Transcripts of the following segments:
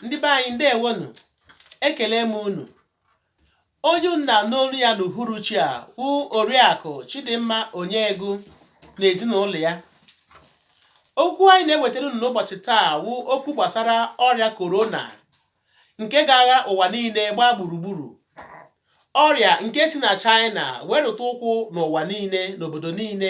ndị be anyị ndewo nụ ekele m unu onye unu na-anụ olu ya n'uhuruchi a wụ oriakụ chidimma onyegu na ezinụlọ ya okwu anyị na-ewetara unu n'ụbọchị taa wụ okwu gbasara ọrịa korona nke ga-agha ụwa niile gbaa gburugburu ọrịa nke si na China wee rụta ụkwụ n'ụwa niile n'obodo niile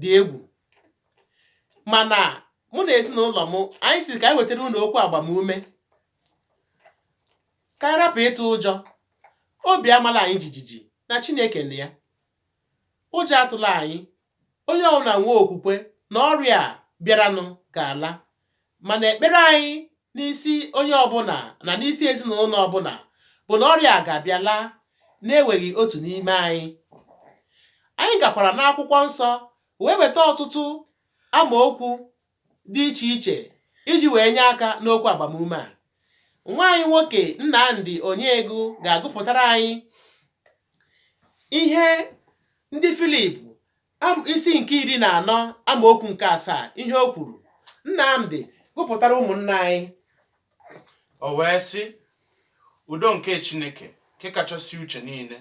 dị egwu mana mụ na ezinụlọ m anyị sị ka anyị wetara unu okwu agbamume ka anyị rapụ ịtụ ụjọ obi amala anyị jijiji na Chineke nọ ya ụjọ atụla anyị onye ọbụla nwee okwukwe na ọrịa a bịaranụ ga-ala mana ekpere anyị n'isi onye ọbụla na n'isi ezinụlọ ọbụla bụ na ọrịa a ga-abịa laa na-eweghị otu n'ime anyị anyị gakwara n'akwụkwọ nsọ wee weta ọtụtụ amaokwu dị iche iche iji wee nye aka n'okwu agbamume a nwa anyị nwoke Nnamdi Onyegu ga-agụpụtara anyị ihe ndị Filip isi nke iri na anọ amaokwu nke asaa ihe o kwuru Nnamdi gụpụtara ụmụnna anyị o wee sị udo nke Chineke nke kachasị uche niile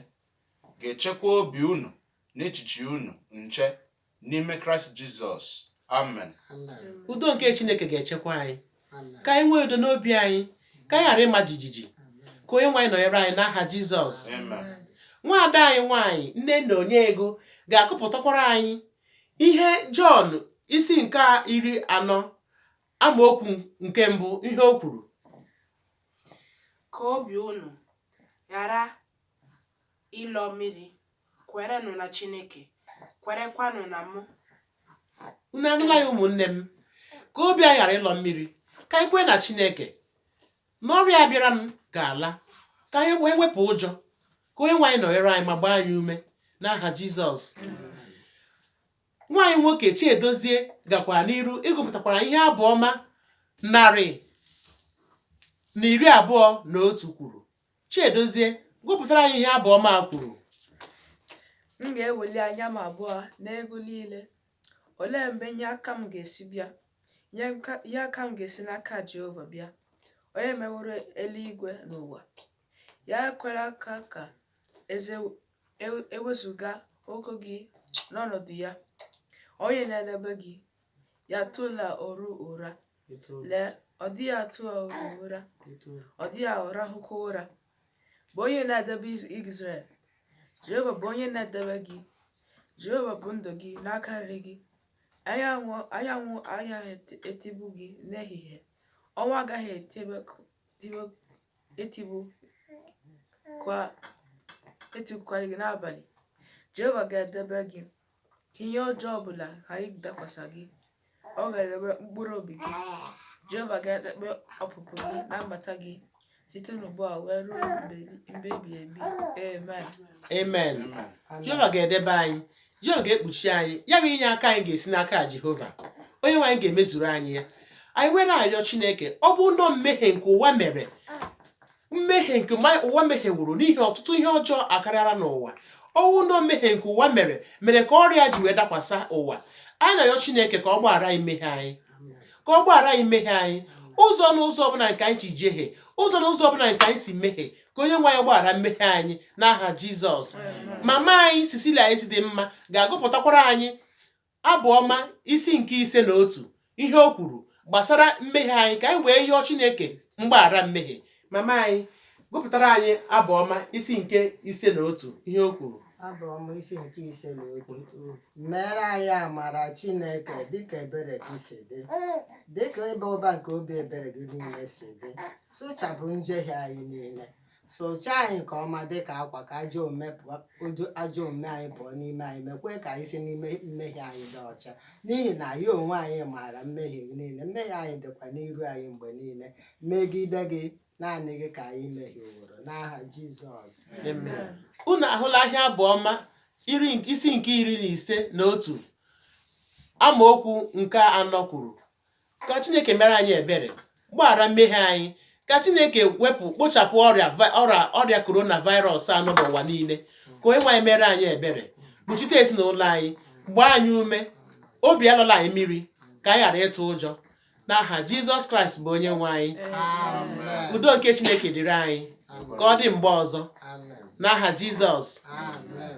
ga-echekwa obi unu na echiche unu nche n'ime Kraịst Jizọs amen udo nke Chineke ga-echekwa anyị ka anyị nwee udo n'obi anyị ka anyị ghara ịma jijiji ka onye nwe anyị nọnyere anyị n'aha jizọs nwaada anyị nwaanyị nnenna onyegu ga-agụpụtakwara anyị ihe jọn isi nke iri anọ amaokwu nke mbụ ihe o kwuru ka obi unu ghara Ịlọ mmiri, Kwerenụ na Chineke, kwerekwanụ na mụ. Unu anụla ya, ụmụnne m? Ka obi anyị ghara ịlọ mmiri, ka anyị kwere na Chineke na ọrịa a bịaranụ ga-ala, ka anyị wee wepụ ụjọ, ka onye nwe anyị nọnyere anyị ma gbaa anyị ume n'aha Jizọs. Nwa anyị nwoke Chiedozie gakwara n'iru ịgụpụtakwara ihe abụ ọma narị na iri abụọ na otu kwuru Chiedozie, gụpụtara anyị ihe abụ ọma a kwuru. M ga-eweli anya m abụọ n'ugwu niile. Olee ebe inye aka m ga-esi bịa? Nye nka- inye aka m ga-esi n'aka Jehova bịa, onye meworo eluigwe na ụwa. Ya ekwela ka ka e wezuga ụkwụ gị n'ọnọdụ ya, onye na-edebe gị ya atụla oru ụra lee ọ dịghị atụ oru ụra ọ dịghị arahụkwa ụra bụ onye na-edebe Izrel Jehova bụ onye na-edebe gị Jehova bụ ndo gị n'aka nri gị anyanwụ anyanwụ agaghị etigbu gị n'ehihie ọnwa agaghị etigbukwa etigbukwara gị n'abalị Jehova ga-edebe gị ka ihe ọjọọ ọ bụla ghara ịdakwasa gị ọ ga-edebe mkpụrụ obi gị jehova ga-edebe ọpụpụ gị na mbata gị site n'ugbu a wee ruo mgbe mgbe ebighị ebi amen amen jehova ga-edebe anyị jehova ga-ekpuchi anyị ya bụ inye aka anyị ga-esi n'aka jehova onye nwe anyị ga-emezuru anyị ya anyị wee na-ayọ chineke ọ bụ na ọ mmehie nke ụwa mere mmehie nke ụwa mehieworo n'ihi ọtụtụ ihe ọjọọ akarịala n'ụwa ọ bụ na ọ mmehie nke ụwa mere mere ka ọrịa ji wee dakwasa ụwa anyị na-ayọ Chineke ka ọ gbaghara anyị mmehie anyị ka ọ gbaghara anyị mmehie anyị ụzọ n'ụzọ ọbụla nke anyị ji jehie ụzọ n'ụzọ ọbụla nke anyị si mehie ka onye nwe anyị gbaghara mmehie anyị n'aha Jizọs mama anyị Cecilia anyị si dị mma ga-agụpụtakwara anyị Abụ ọma isi nke ise na otu ihe o kwuru gbasara mmehie anyị ka anyị wee yọọ Chineke mgbaghara mmehie. Mama anyị, gụpụtara anyị abụ ọma isi nke ise na otu ihe o kwuru. Abụ ọma isi nke ise na otu meere anyị amara Chineke dịka ebere gị si dị dịka ịba ụba nke obi ebere gị niile si dị sụchapụ njehie anyị niile Sụchaa anyị nke ọma dị ka akwa ka ajọ omume pụọ ojo- ajọ omume anyị pụọ n'ime anyị meekwa ka anyị si n'ime mmehie anyị dị ọcha n'ihi na anyị onwe anyị maara mmehie niile mmehie anyị dịkwa n'iru anyị mgbe niile megide gị naanị gị ka anyị mehieworo n'aha Jizọs Amen. unu ahụla ihe abụ ọma iri nke- isi nke iri ise na otu amaokwu nke anọ kwuru ka chineke meere anyị ebere gbaghara mmehie anyị ka chineke wepụ kpochapụ ọrịa vi- ọrịa ọrịa korona virus a nọ n'ụwa niile ka onye nwe anyị meere anyị ebere kpuchite ezinụlọ anyị gbaa anyị ume obi alọla anyị mmiri ka anyị ghara ịtụ ụjọ n'aha jizọs kraịst bụ onye nwe anyị Amen. udo nke chineke dịrị anyị ka ọ dị mgbe ọzọ Amen. n'aha jizọs Amen.